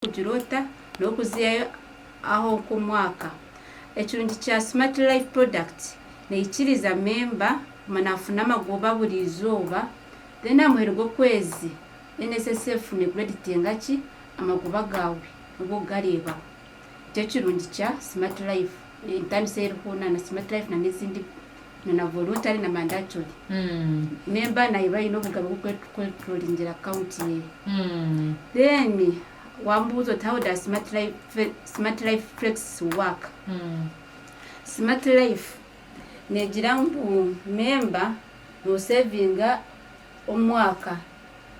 kugiroota n'okuzihayo aho nk'omwaka. Ekirungi kya Smart Life Products neikiriza memba kuguma nafuna amagoba buri izooba then aha muheru gw'okwezi NSSF necreditinga ki amagoba gaawe nibwo okugareebaho. Nikyo kirungi kya Smart Life, entandise ei eriho na Smart Life na n'ezindi. na na volutare na mandatory memba nayo eba eine obugabe bw'okweturolingira akawunti ye then wambuuza oti how does smart life, smart life flex work smart life negira ngu memba nosevinga omwaka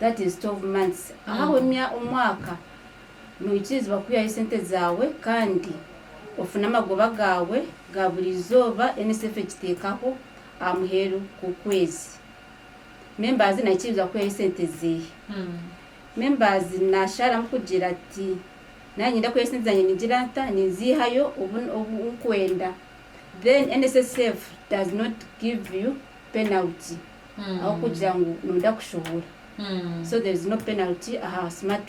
that is 12 months ahaho omwaka Noikiriza kuhwerayo esente zaawe kandi ofune amagoba gaawe ga buri izooba NSSF ekiteekaho aha muheru gw'okwezi. Members naikiriza kuhwerayo esente zeehe? Members nashaaramu kugira ati Nanye niinyenda kuhwerayo esente zangye ningira nta? Ninziihayo obu obu nkwenda then NSSF does not give you penalty ahabw'okugira ngu noyenda kushohora so there is no penalty aha smart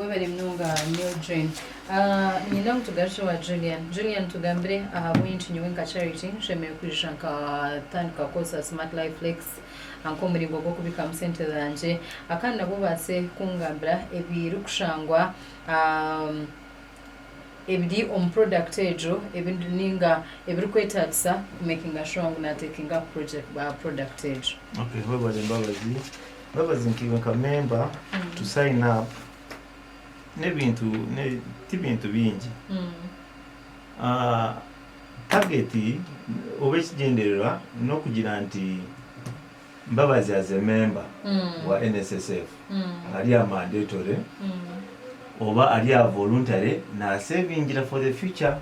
Webare munonga nyowe Jane. Niinyenda ngu tugarukye owa Julian. Julian tugambire ahabw'enki nyowe nka Charity nshemereire kwija nkatandika kukoresa Smart Life Flex nk'omuringo gw'okubikamu sente zangye. Kandi nabwo obaase kungambira ebirikushangwa ebiri omu product egyo ninga ebirikwetagisa kumekinga shuwa ngu natekinga aha product egyo. Okay. Webare Mbabazi. Mbabazi nkaiwe nka memba to sign up n'ebintu tibintu bingi target oba ekigyendererwa n'okugira nti Mbabazi as a memba wa NSSF ari aha mandatory oba ari aha voluntary nasevingira for the future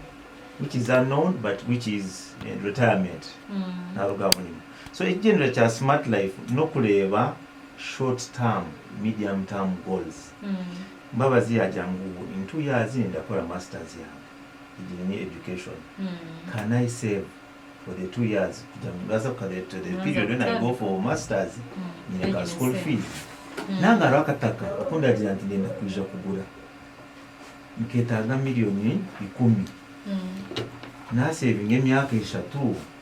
which is unknown but which is retirement naruga aho nyima. So ekigyendera kya smart life nokureeba short term, medium term goals. Mbabazi yagira ngu in two years ndakora masters yange egyo ni education can I save for the two years kugira ngu naaza kukabeera to the period when I go for masters nyine ka school fees nanga hariho akataka aku ndagira nti ndenda kwija kugura nketaaga million ikumi nasevinga emyaka eshatu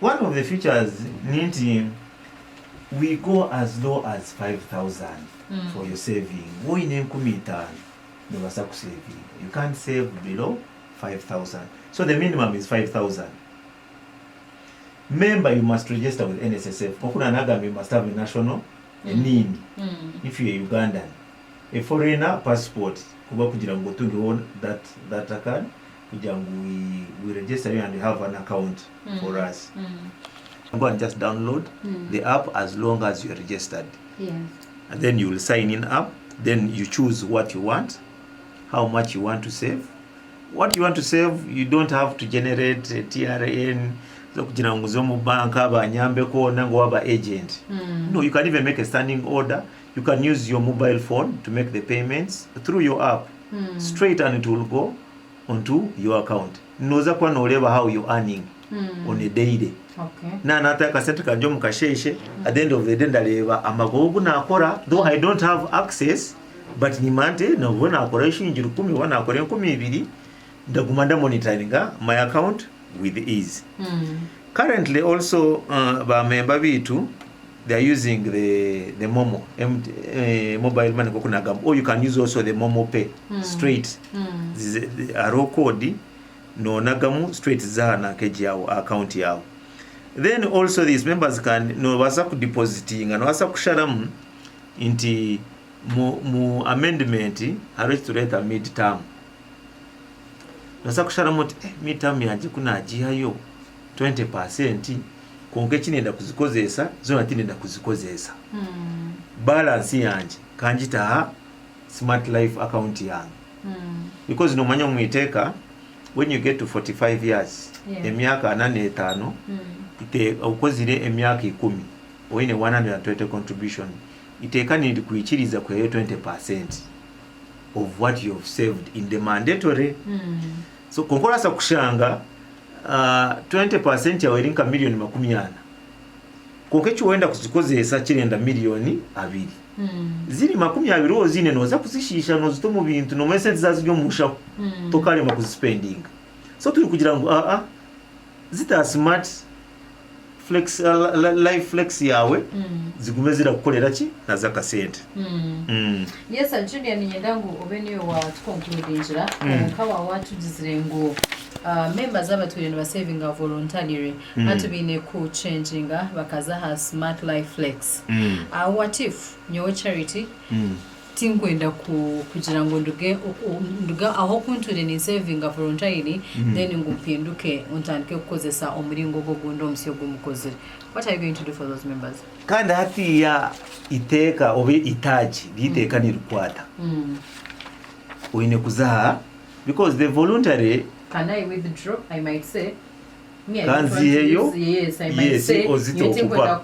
One of the features ni nti we go as low as 5000 for your saving. Waaba oine enkumi itaano noobaasa kuseevinga. You can't save below 5000. So the minimum is 5000. Member you must register with NSSF. Nk'oku naaba naagambire you must have a national NIN if you're a Ugandan. A foreigner, passport kuba kugira ngu otungeho that card kugira ngu we we register you and have an account for us go and just download the app as long as you're registered and then you will sign in up then you choose what you want how much you want to save what you want to save you don't have to generate TRN zokugira ngu nze omu bank banyambeko nanga owaba agent no you can even make a standing order you can use your mobile phone to make the payments through your app straight and it will go onto your account noza kuba noreeba how you earning on a daily na nata akasente kangye omu kasheshe at the end of the day ndareeba amagoba ogu nakora though I don't have access but nimanya nti nobu nakora shilingi rukumi oba nakora enkumi ibiri ndaguma nda monitoringa my account with ease currently also ba member baitu They are using the the momo MT, eh, mobile money nkoku nagamba or you can use also the momo pay straight Zize- zi- hariho code nonagamu straight ziza aha nanka egi yawe aha account yawe then also these members can nobaasa kudepositinga nobaasa kusharamu nti mu, mu amendment hariho ekitureeta mid term nobaasa kusharamu oti eh, mid term yangye ku nagiihayo 20 percent kwonka eki nenda kuzikozesa zona tinenda kuzikozesa balance yangye kangita aha smart life account yange because nomanya omu iteka when you get to 45 years Yeah. emyaka ana n'etano ite okozire emyaka ikumi oyine 120 contribution iteka nirikwikiriza kuheyo 20 percent of what you have saved in the mandatory so kwonka orasa kushanga 20 percent yaawe eri nka million makumi ana kwonka eki wenda kuzikozesa kirenda million abiri ziri makumi abiri oziine noza kuzishiisha nozita omu bintu nomanya esente za ziri omu nshaho tokarema kuzisipendinga so turi kugira ngu aa zita smart flex live flex yaawe zigume zirakukorera ki nazo akasente Mm. Yes, and Julia niinyenda ngu obe niiwe waatukonkuluudingira. Omuka waawe waatugizire ngu ah, memba z'abatwire nibasevinga voluntarily, hati baine kucenjinga bakaza aha Smart Life Flex. Ah, what if nyowe Charity tinkwenda kugira ngu nduge nduge ahu okuntuure ninsevinga volontaire then ngu mpinduke ntandike kukozesa omuringo ogwo ogundi omusya ogu mukozire. What are you going to do for those members? Kandi hatiiya iteeka oba itaagi ry'eiteeka nirikwata, oine kuza aha because the voluntary. Can I withdraw? I might say. Ka nziheyo yes ozite okuba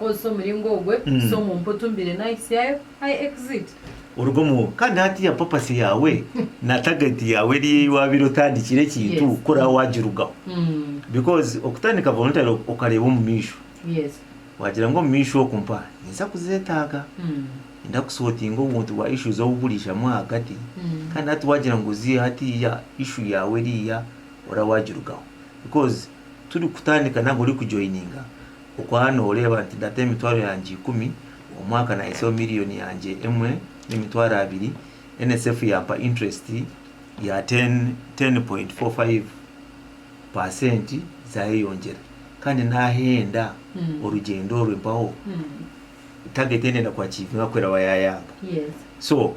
oruga omu kandi hatiya purpose yaawe na target yaawe eri ei waabaire otandikire ekintu kuraabe waagirugaho because okutandika voluntary okareeba omu maisho waagira ngu omu maisho oku mpaha ninza kuzeetaaga ninza ku sortinga obuntu bwa issues obu buriijamu ahagati kandi hati waagira ngu oziihe hatiiya issue yaawe eriiya oraabe waagirugaho. Because turi kutandika nari ori ku joininga okwaba noreeba nti ndata emitwaro yangye ikumi omwaka nahisaho million yangye emwe na emitwaro abiri NSSF yampa interest ya 10.45% zayeyongyera kandi nahenda orugyendo orwe mpaho target eyi ndenda ku achievinga ku eraba yayanga. So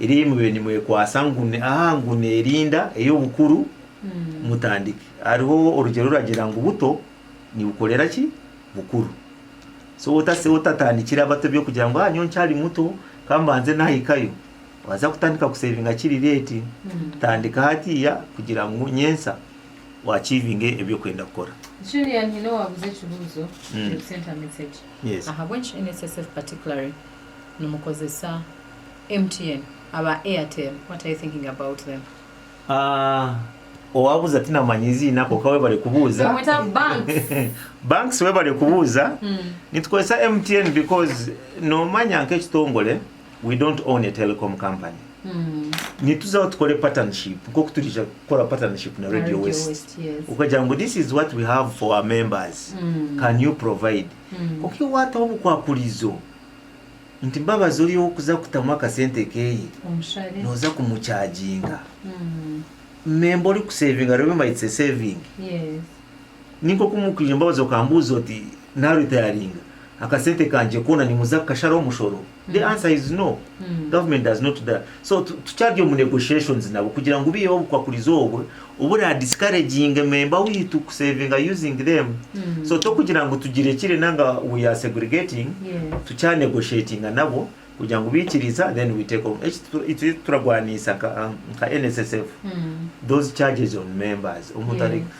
eri ei mubaire nimwekwatsa ngu ni aha ngu neerinda ey'obukuru mutandike. Hariho orugyera oruragira ngu buto nibukorera ki? Bukuru. So otase otatandikire abato eby'okugira ngu ah nyowe nkyari muto ka mbanze naahikayo, waaza kutandika kusevinga kiri reeti. Tandika hatiiya kugira ngu nyentsya waaciivinge ebi orikwenda kukora. Julian, nyine owaabuza ekibuuzo, Yes. Yes. Ahabw'enki NSSF particularly? nimukozesa MTN aba Airtel what are you thinking about them? Owabuuza tinamanya eiziina kwonka webare kubuuza. Nimumweta Banks. Banks webare kubuuza. Nitukozesa MTN because nomanya nk'ekitongore we don't own a telecom company. Nituzaho tukore partnership nk'oku turiija kukora partnership na Radio West. Okagira ngu this is what we have for our members can you provide? Kwonka iwe waataho obukwakurizo nti Mbabazi ori ow'okuza kutamu akasente keeye, nooza kumucaaginga. Memba orikuseevinga reero might say saving. Ni nk'oku mukwiija Mbabazi okambuuza oti, Naaritayaringa, akasente kangye koona nimuza kukasharaho omushoro? The answer is no. Government does not do that. So tu- tukyari omu negotiations nabo kugira ngu biiyeho obukwakurizi obwo obura discouraginge member wiitu ku savinga using them. So tokugira ngu tugirekire nanga we are segregating, Yes. tukya negotiatinga nabo kugira ngu biikiriza then we take on. Eki tu- eki turagwaniisa ka- nka NSSF those charges on members omuntu ari Yes.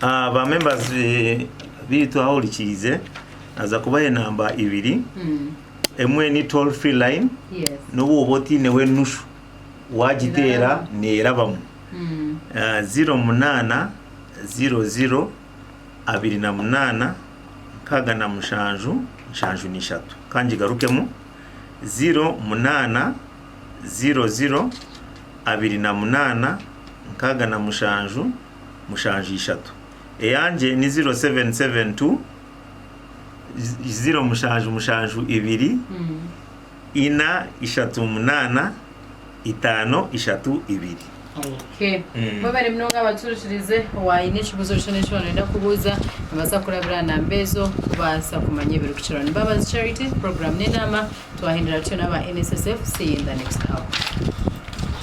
Ba members beitu ahurikiize naza kubaha enamba ibiri emwe ni toll free line nobu oba otineho enushu wagiteera nerabamu ziro munana ziro ziro abiri na munana nkaga na mushanju nshanju na ishatu kangigarukemu ziro munana ziro ziro abiri na munana nkaga na mushanju mushanju ishatu. Eyangye ni ziro seveni seveni tu, ziro mushanju mushanju ibiri, ina ishatu munaana, itaano ishatu ibiri. Okay. Mm. Mwebare munonga abaturikirize waine ekibuzo kyona eki wanoyenda kubuuza nobaasa kurabira aha namba ezo kubaasa kumanya ebirikukiraho. Ni Mbabazi Charity, program n'enaama twahindura tutyo n'aba NSSF. See you in the next hour.